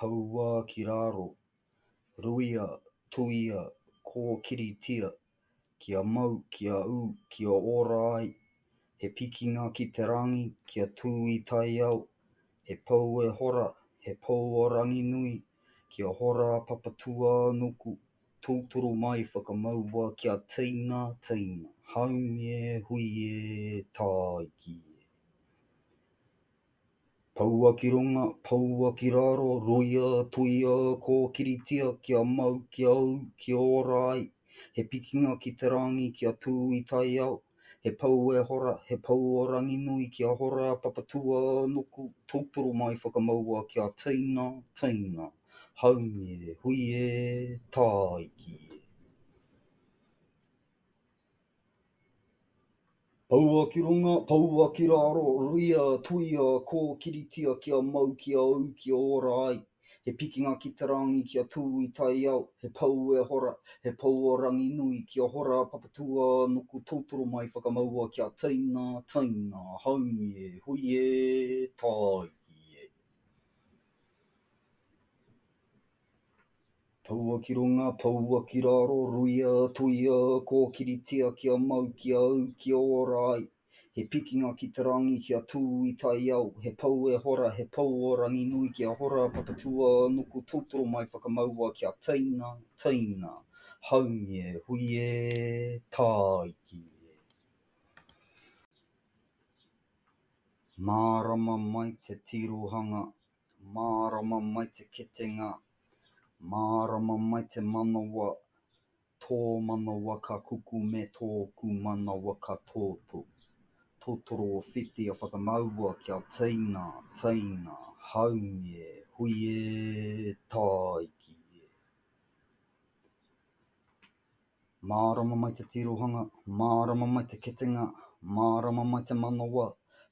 Poua ki raro, ruia, tuia, kōkiritia, kia mau, kia ū, kia ora ai, he pikinga ki te rangi, kia tū i taiao, he pou e hora, he pou o Ranginui, kia hora a Papatūānuku, tūturu mai, whakamaua kia teina, teina, haumi e, hui e, tāiki e. Poua ki runga, poua ki raro, roia, toia, kōkiritia, kia mau, kia ū, kia ora ai, he pikinga ki te rāngi kia tū i taiao, he pou e hora, he pou o Ranginui kia hora, papatua, nuku, tūturu mai whakamaua kia teina, teina, haumi e, hui e, tāiki e. Poua ki runga, poua ki raro, ruia, tuia, kōkiritia kia mau, kia ū, kia ora ai. He pikinga ki te rāngi kia tū i taiao, he pou e hora, he pou o Ranginui, kia hora Papatua nuku tūturu mai whakamaua kia teina, teina, haumie, hui e, tāiki e. Poua ki runga, poua ki raro, ruia, tuia, kōkiritia kia mau, kia au, kia ora ai. He pikinga ki te rangi kia tū i taiao, he pou e hora, he pou o Ranginui kia hora, papatua, nuku, tūtoro mai whakamaua kia teina, teina, haumi e, hui e, tāiki e. Mārama mai te tirohanga Mārama mai te ketenga, mārama mai te manawa, tō manawa ka kukume tōku manawa ka tōtō. Totoro o whiti a whakamaua kia teina, teina, haunge, hui e, tāiki e. Mārama mai te tirohanga, mārama mai te ketenga, mārama mai te manawa,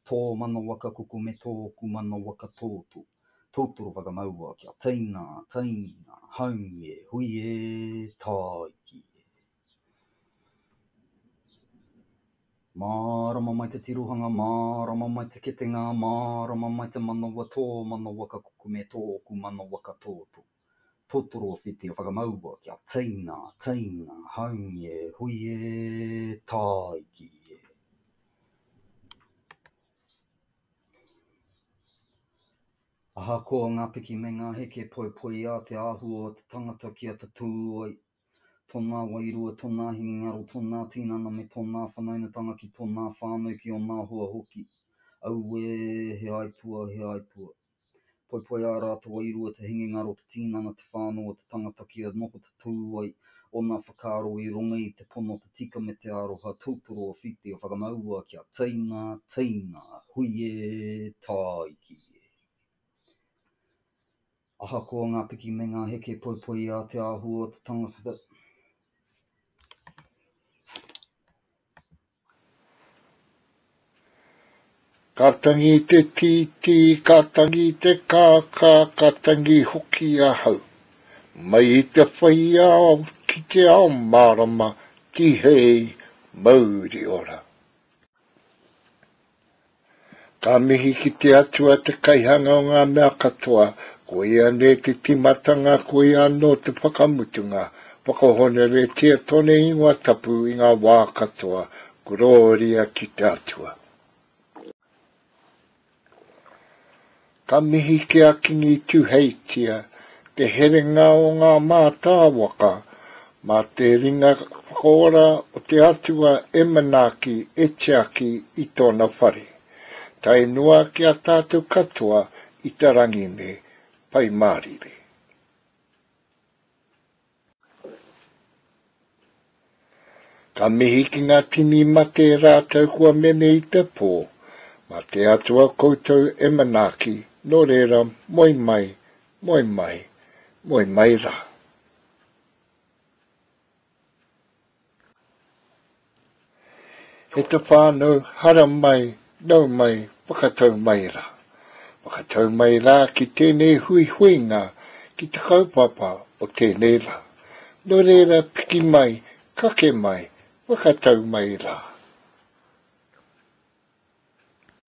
tō manawa ka kuku me tōku manawa ka tōtō. Tūturu whakamaua kia teina, teina, haumi e, hui e, tāiki e. Mārama mai te tirohanga, mārama mai te ketenga, mārama mai te manawa, tō manawa ka kuku me tōku manawa ka tōtō. Totoro whiti o whakamaua kia teina, teina, haungi e hui e, tāiki e. Ahakoa ngā piki me ngā heke poipoiā te āhua o te tangata kia tatū ai tōnā wairua, tōnā hinengaro, tōnā tinana me tōnā whanaungatanga ki tōnā whānau, ki onā hoa hoki. Auē, he aituā, he aituā. Poipoiā rātou ai i rua te hinengaro, te tinana, te whānau o te tangata kia noho te tohu ai o ngā whakaaro i runga i te pono, te tika me te aroha, tūturu o whiti, o whakamaua kia teina, teina, hui e, tāiki e. Ahakoa ngā piki me ngā heke, poipoiā te āhua o te tangata, Ka tangi te tītī, ka tangi te kākā, ka tangi hoki ahau. Mai i te whaiao ki te ao mārama, tihei mauri ora. Ka mihi ki te Atua te Kaihanga o ngā mea katoa, ko ia nei te timatanga ko ia anō te whakamutunga, whakahoneretia tone ingoa tapu i ngā wā katoa, Gororia ki te Atua. Ka mihi ki a Kingi Tuheitia, te herenga o ngā mātāwaka, mā te ringa whakaora o te Atua e manaaki, e tiaki i tōna whare. Tae noa ki a tātou katoa i te rangi nei. Pai mārire. Ka mihi ki ngā tini mate rātou kua mene i te pō, mā te Atua koutou e manaaki, nō reira moe mai, moe mai, moe mai rā. He te whānau hara mai, nau mai, whakatau mai rā. Whakatau mai rā ki tēnei huihuinga, ki te kaupapa o tēnei rā. Nō reira piki mai, kake mai, whakatau mai rā.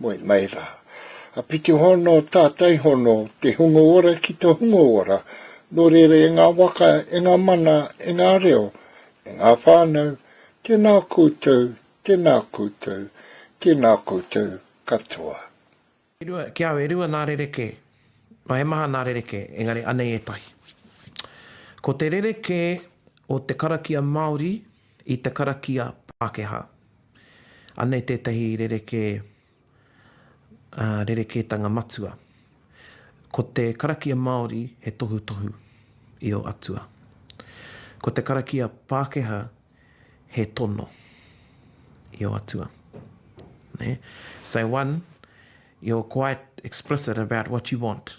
Moe mai rā. A pito hono tātai hono te hunga ora ki to hunga ora, no reira e ngā waka, e ngā mana, e ngā reo, e ngā whānau, tēnā koutou, tēnā koutou, tēnā koutou katoa. E rua, ki au e rua nā rerekē. Nā, he maha nā rerekē, engari anei ētahi. Ko te rerekē o te karakia Māori i te karakia Pākehā. Anei tētahi rerekē, ā, rerekētanga matua. Ko te karakia Māori he tohutohu i ō atua. Ko te karakia Pākehā he tono i ō atua. Nē? So one, you're quite explicit about what you want.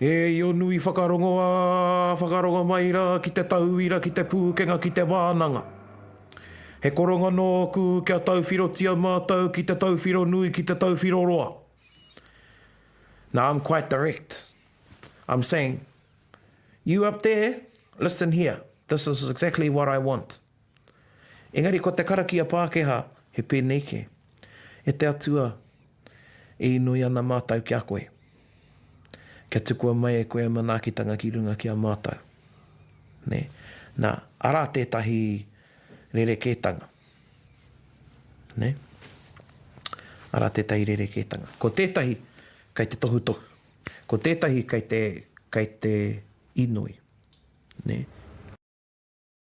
E io nui whakarongoa, whakarongo mai ra ki te tauira, ki te pūkenga, ki te wānanga. He koronga nōku kia tauwhirotia mātou ki te tauwhiro nui, ki te tauwhiro roa. Now I'm quite direct. I'm saying, you up there, listen here, this is exactly what I want. Engari ko te karakia Pākehā he pēnei kē, E te Atua, e inoi ana mātou ki a koe, kia tukua mai e koe a manaakitanga ki runga ki a mātou. Nē? Nā, arā tētahi rerekētanga. Nē? Arā tētahi rerekētanga. Ko tētahi kei te tohutohu. Ko tētahi kei te, kei te inoi. Nē?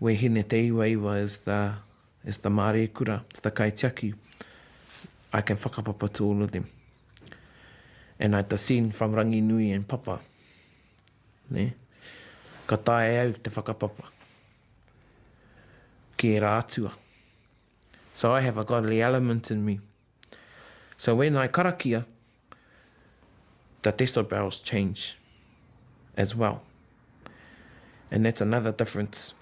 Wehine Te Iwaiwa is the is the māreikura, is the kaitiaki. I can whakapapa to all of them. And I descend from Ranginui and Papa. Ne? Ka taea e au te whakapapa ki ērā atua. So I have a godly element in me. So when I karakia, the decibels change as well and that's another difference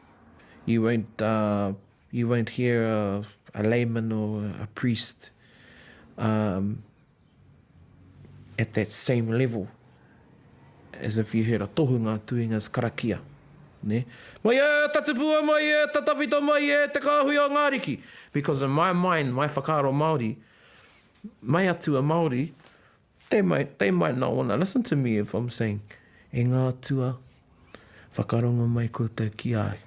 you won't uh, you won't hear a, a layman or a priest um, at that same level as if you heard a tohunga doing his karakia ne mai e tatipua mai e tatawhito mai e te kāhui o ngā riki because in my mind my whakaaro Māori Mai atu a Maori, tei mai, tei mai na ona, listen to me if I'm saying, e nga atua, whakarongo mai koutou ki a au.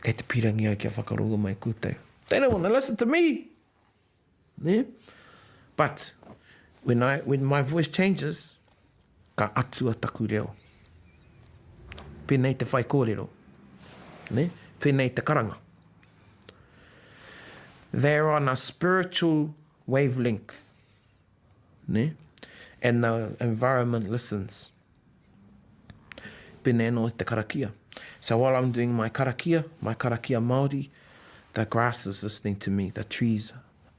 Kei te pirangi au kia whakarongo mai koutou. They don't wanna listen to me! Ne? But, when I, when my voice changes, Ka atua taku reo. Pēnei te whaikōrero. Ne? Pēnei te karanga. They are on a spiritual wavelength. Ne? And the environment listens. Pēnei anō te karakia. So while I'm doing my karakia, my karakia Māori, the grass is listening to me, the trees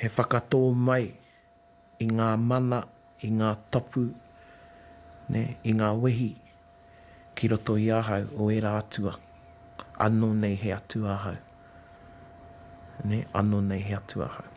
He whakatō mai i ngā mana, i ngā tapu, i ngā wehi ki roto i ahau o ērā atua, anō nei he atua ahau. Anō nei he atua ahau.